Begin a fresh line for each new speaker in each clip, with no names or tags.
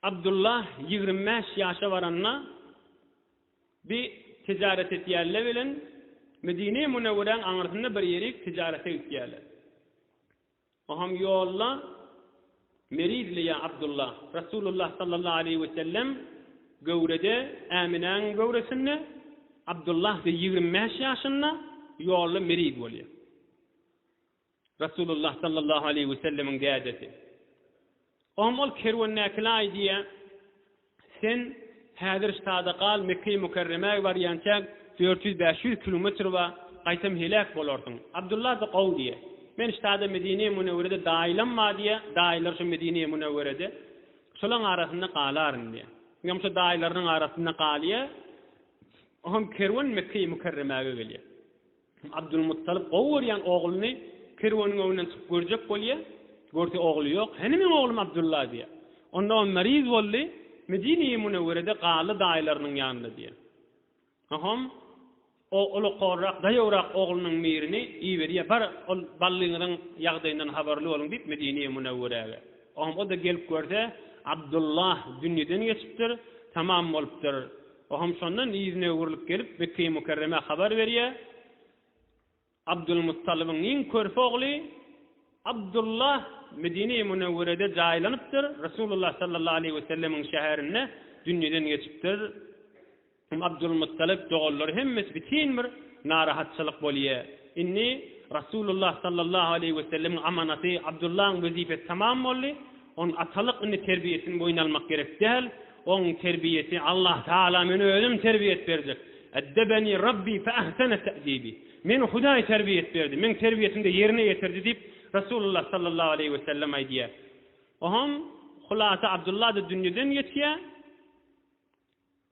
Abdulla ýigrimi bäş ýaşa baranda, bi tijaret etýärler bilen Medine-i Münewweräň aňyrsynda bir ýerik tijarete gitýärler. Oham ýolda Merizli ýa Abdulla, Rasulullah sallallahu aleýhi we sellem göwrede, Äminäň göwresinde, Abdulla ýigrimi bäş ýaşynda ýolda meriz bolýar. Resulullah sallallahu aleýhi we sellemiň dädesi. Ogam ol kerwendäkilaý diýýä, Sen häzir ştada gal, Mekgeýi Mükerremäge barýança dört ýüz, bäş ýüz kilometr bar, gaýtam heläk bolarsyň. Abdulla-da gowy diýýä. Men ştada Medinä Münewwerede daýylam bar diýýä, daýylar şu Medinä Münewwerede. Şolaň arasynda galaryn diýýä. Ogam şo daýylarynyň arasynda galýa. Ogam kerwen Mekgeýi Mükerremäge gelýä. Abdulmuttalyp gowy görýän ogluny kerweniň öňünden çykyp görjek bolýar. Görse ogly ýok. Hany meň oglum Abdulla diýýär. Onda ol meriz boldy, Medine-i Munewwerede galdy daýylarynyň ýanynda diýýär. Soňam o ulukorrak, daýawrak oglunyň mirini iberýär, Bar, ol ballyňyzyň ýagdaýyndan habarly boluň diýip, Medine-i Munewwerege. Soňam o-da gelip görse, Abdulla dünýeden geçipdir, tamam bolupdyr. Ohem şondan yzyna öwrülip gelip, Mekge-i Mükerremä habar berýär, Abdylmuttalybyň iň körpe ogly Abdullah Medine-i Münewwerede jaýlanypdyr, Resulullah sallallahu aleýhi we sellemiň şäherinde dünýeden geçipdir. Abdylmuttalyp doganlary hemmesi bütin bir narahatçylyk bolýar. Indi Resulullah sallallahu aleýhi we sellemiň amanaty Abdullahyň wezipesi tamam boldy. Onuň atalyk indi terbiýesini boýun almak gerek däl. Oň terbiýesi Allahtagala men özüm terbiýet berjek. Eddebeni Rabbi fe ahsene te'dibi. Meni Hudaý terbiýet berdi, meň terbiýesini-de ýerine ýetirdi diýip, Resulullah sallallahu aleýhi we sellem aýdýar. Oňam hulasa Abdullah-da dünýeden geçýär.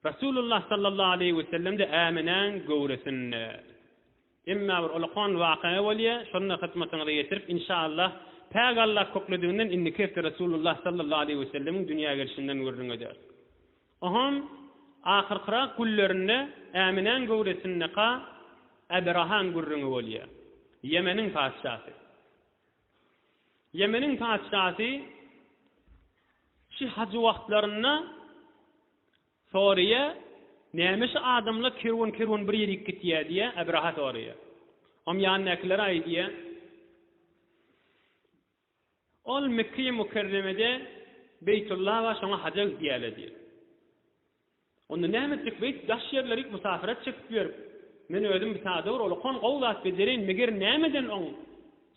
Resulullah sallallahu aleýhi we sellem-de Äminäň göwresinde. Emma bir ulakan wakaýa bolýa, şonda hyzmatyňyza ýetirip, inşallah, Päk Allah köklediginden indiki hepde Resulullah sallallahu aleýhi we sellemiň dünýä gelşinden gürrüň ederis. Oňam ahyrkyrak günlerinde Äminäň göwresindeka Äberahaň gürrüňi bolýa. Ýemeniň patyşasy. Ýemeniň patyşasy şi hajy wagtlarynda Soraýa, Näme şu adamlar kerwen-kerwen bir ýerik gitýä diýä, Abraha soraýa. Om ýanyndakylara aýdýa, Ol Mekgeýi Mukerremede Beýtulla bar, şoňa haja gidýäler diýä. Onda näme etjek beýdip daş ýerleri musafyrat çekip ýörüp, men özüm bir sada bir olakan gowy zat bejereýin, meger nämeden oň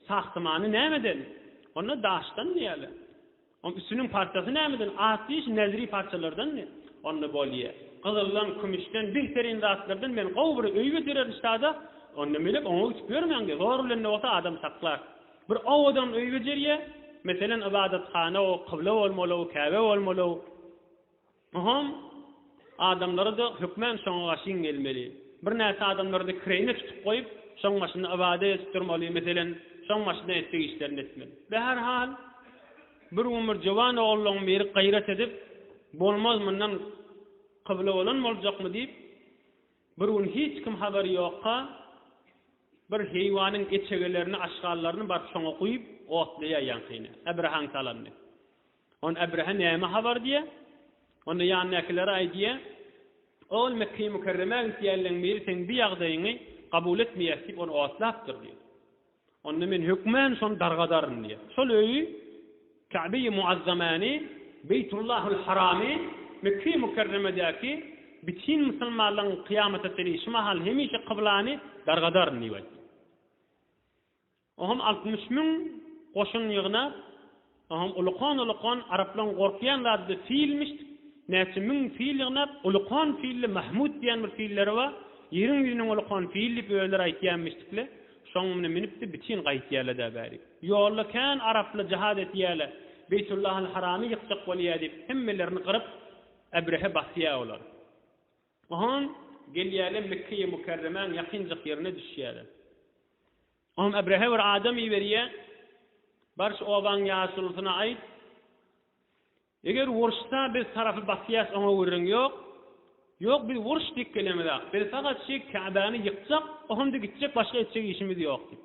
sahsymany nämeden? Onda daşdan diýäler. Oň üstüniň parçasy nämeden? At diýiş näziri parçalardanmy? Onda bolýa. Gyzyldan, kümüşden, bihterine zatlardan men gowy bir öý bitirerin şada. Onda menem oňa ütüp ýörmäň-de, zor bilen-de bolsa adam saklar. Bir owadan öý bejerýä. Meselem, ybadathana-u, kybla bolmaly-u, käbe bolmaly-u. Mahom adamlary-da hökmän şoňa gaşyn gelmeli. Birnäçe adamlary-da kireýine tutup goýup, şoň başynda ybadat edip durmaly, meselem, şoň başynda etjek işlerini etmeli. Be her hal, bir gün bir jowan ogullaryň biri gaýrat edip, Bolmaz mundan kybla bolan boljakmy diýip, bir gün hiç kim habary ýokka, bir heýwanyň eçegelerini, aşgallaryny baryp şoňa guýup, otlaýar ýaňkyny, äbirahaň salanyny. Onda Ebrehe näme habar diýýär? Onda ýanyndakylara aý diýýär, Ol Mekge-i Mükerremä gitýänleň biri seň bi ýagdaýyňy kabul etmeýäs diýip ony otlapdyr diýýär. Onda men hökmän şony dargadaryn diýýär. Şol öýi Käbe-i Muazzamany, Beýtullahul Haramy, Mekge-i Mükerremedäki bitin musulmanlaň kyýamata çenli şu mahal hemişe kyblany dargadaryn diýip aýtdy. Oňam altmyş müň goşun ýygnap, oňam ulukan-ulukan, araplaryň gorkýan zady-da filmiş, näçe müň fil ýygnap, ulukan filli Mahmut diýen bir filleri bar, ýeriň ýüzüniň ulukan fili diýip özleri aýtýanmyşdykle, şoň mine münüp-de bitin gaýtýarlar-da bäri. Ýolda kän araplar jahaz etýärler, Beýtullahal Haramy ýykjak bolýar diýip, hemmelerini gyryp, Ebrehe basýar olar. Oňam gelýärler Mekgeýi Mükerremäň ýakynjak ýerine düşýärler. Oňa Ebrehe bir adam iberýär, Bar şu obaň ýaşulusyna aýt, Eger uruşda biz tarapy basýas oňa gürrüň ýok, Ýok biz uruş dik gelemizak, biz sagat şi Käbäni ýykjak, o hemde gitjek başga etjek işimiz ýok diýip.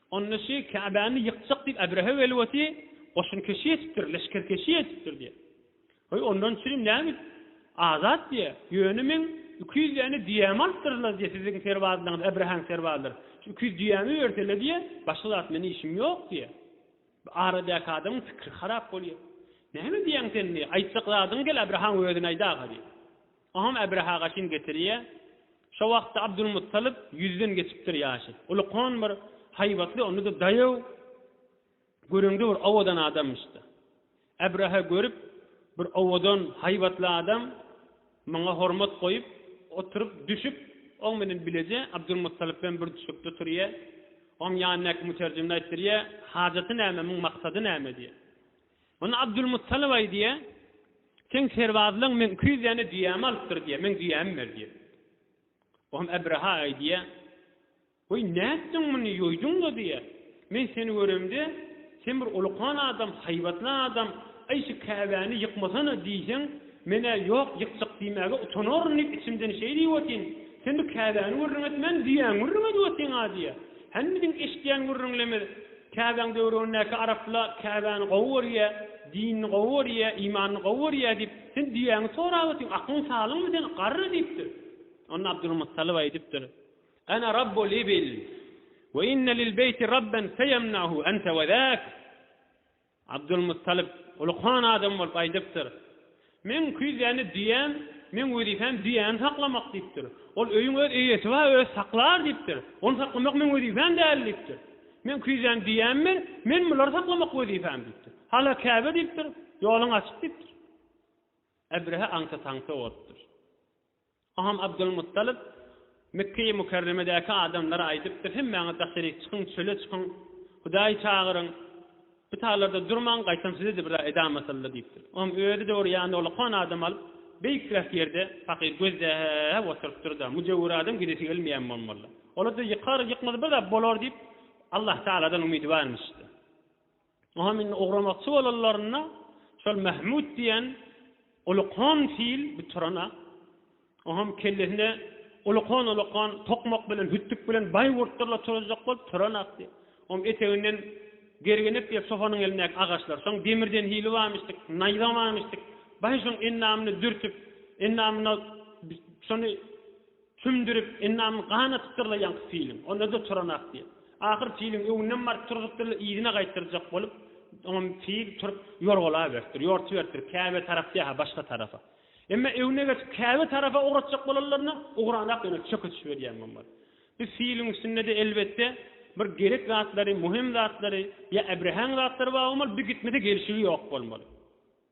Onda şu Käbäni ýykjak diýip Äbrehe welwasy goşunkeşi etipdir, leşgerkeşi etipdir diýer. Goý, ondan çürim nägit, azat diýer. Ýöne meň iki ýüz däne düýämi alypdyrlar diýer, siziň serbazlaryňyz, Äbrehäň serbazlary. Şu iki ýüz düýämi bersele diýer, başga zat meniň işim ýok diýer. Bu aradäki adamyň pikiri harap bolýar. Näme diýýäň sen diýer, aýtjak zadyňy gel Äbrehaň özüne aýt aga diýer. Oňam Äbraha gaşyn getirýä. Şo wagtda Abdulmuttalyp ýüzden geçipdir ýaşy. Ulukan bir haýbatly, onda-da daýaw, göreňde bir owadan adamyşdy. Äbraha görüp, bir owadan, haýbatly adam, muňa hormat goýup, oturyp, düşüp, oň bilen bileje Abdulmuttalyp hem bir düşekde oturýa. Oňam ýanyndaky müterjimine aýtdyrýa, Hajaty näme, muň maksady näme? diýýä. Onda Abdulmuttalyp aý diýýär, Seň serbazlaryň meň iki ýüz däne düýämi alypdyr diýýär, meň düýämi ber diýýär. O hem Ebreha aý diýýär, Weý, nätdiň muny, ýoýduň-la diýýär. Men seni göremde, sen bir ulukan adam, haýbatly adam, Aý, şu Käbäni ýykmasana diýseň, men-ä ýok, ýykjak diýmäge utanaryn diýip içimden şeý diýip otyn. Sen bu Käbäni gürrüň etmän, düýäňi gürrüň edip otyn-a diýýär. Hany biziň eşidýän gürrüňlerimiz? Käbäň döwrügindäki arapla Käbäni gowy görýä, dinini gowy görýä, imanyny gowy görýä diýip, sen düýäňi sorap otyň, aklyň salyňmy seň, garry diýipdir. Onda Abdulmuttalyp aýdypdyr, Ana Rabbul ibil we inne lil beýti Rabben feýemnahu ente we zäk. Abdylmuttalyp ulukan adam bolup aýdypdyr, Meň küýzäni düýäm, meň wezipem düýäni saklamak diýipdir. Ol öýüň öz eýesi bar, özi saklar diýipdir. Ony saklamak meň wezipem däl diýipdir. Meň küýzäm düýämmi, men bulary saklamak wezipem diýipdir. Hala Käbe diýipdir, ýoluň açyk diýipdir. Ebrehe aňta-taňta bolupdyr. Aham Abdylmuttalyp Mekgeýi Mükerremedäki adamlara aýdypdyr, Hemmäňiz daşaryk çykyň, çöle çykyň, Hudaýy çagyryň, bu taglarda durmaň, gaýtam size-de bir zat edam asylda diýipdir. Aham özi dogry ýanyna olakan adam alyp, beýikräk ýerde pakyr gözläp oturypdyr-da, müjewür adam gidesi gelmeýän bolmaly. Ola-da ýykar, ýykmasa bir zat bolar diýip, Allahtagaladan umydy barmyş-da. Oňam indi ugramakçy bolanlarynda şol Mähmüt diýen ulukhan fil bu Turana, oňam kellesine ulukhan-ulukhan tokmak bilen, hütdük bilen baýgurtdyrlar turuzjak bolup Turan akdy. Oňam eteginden gergenek diýip sofanyň elindäki agaçlar, soň demirden hili bamyşdyk, naýza bamyşdyk, baý şoň endamyny dürtüp, endamyna şony Tümdürip, endamyň gan atypdyr-la ýaňky piliň. Onda-da turanak diýip. Ahyr piliň öňünden baryp turzup-dyr-la yzyna gaýtdyrjak bolup, oňam pil turup ýorgalaberipdir, ýortuberipdir, käbe tarap dä-ha, başga tarafa. Emma öňüne geçip käbe tarapa ugratjak bolanlaryna ugranak ýöne çöke düşüberýän bolmaz. Bu piliň üstünde-de, elbetde, bir gerek zatlary, möhüm zatlary ýa äbrehäň zatlary bar bolmaly, bu gitmese gelşigi ýok bolmaly.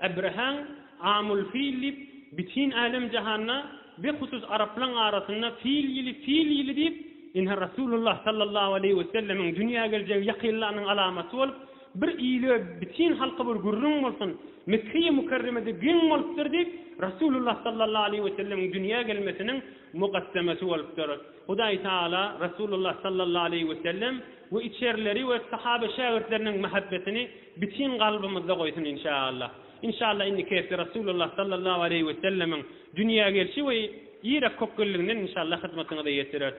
Abraham Amul Fil diýip, bütin älem-jahanda, bihusus araplaň arasynda Fil ýyly, Fil ýyly diýip, ine, Resulullah sallallahu aleýhi we sellemiň dünýä geljegi ýakynlanyň alamaty bolup, bir ile, bütin halka bir gürrüň bolsun, Mekge-i Mükerremede geň bolupdyr diýip, Resulullah sallallahu aleýhi we sellemiň dünýä gelmesiniň mugaddemesi bolupdyr. Hudaý Tagala Resulullah sallallahu aleýhi we sellem we içerileri we sahabe-şägirtleriniň mähebbetini Bitin kalbymyzda goýsun inşaallah. Inşaallah indiki hepde Rasulullah sallallahu aleýhi we sellemiň dünýä gelşi we Irak kökgelliginden inşaallah hyzmatyňyza ýetireris.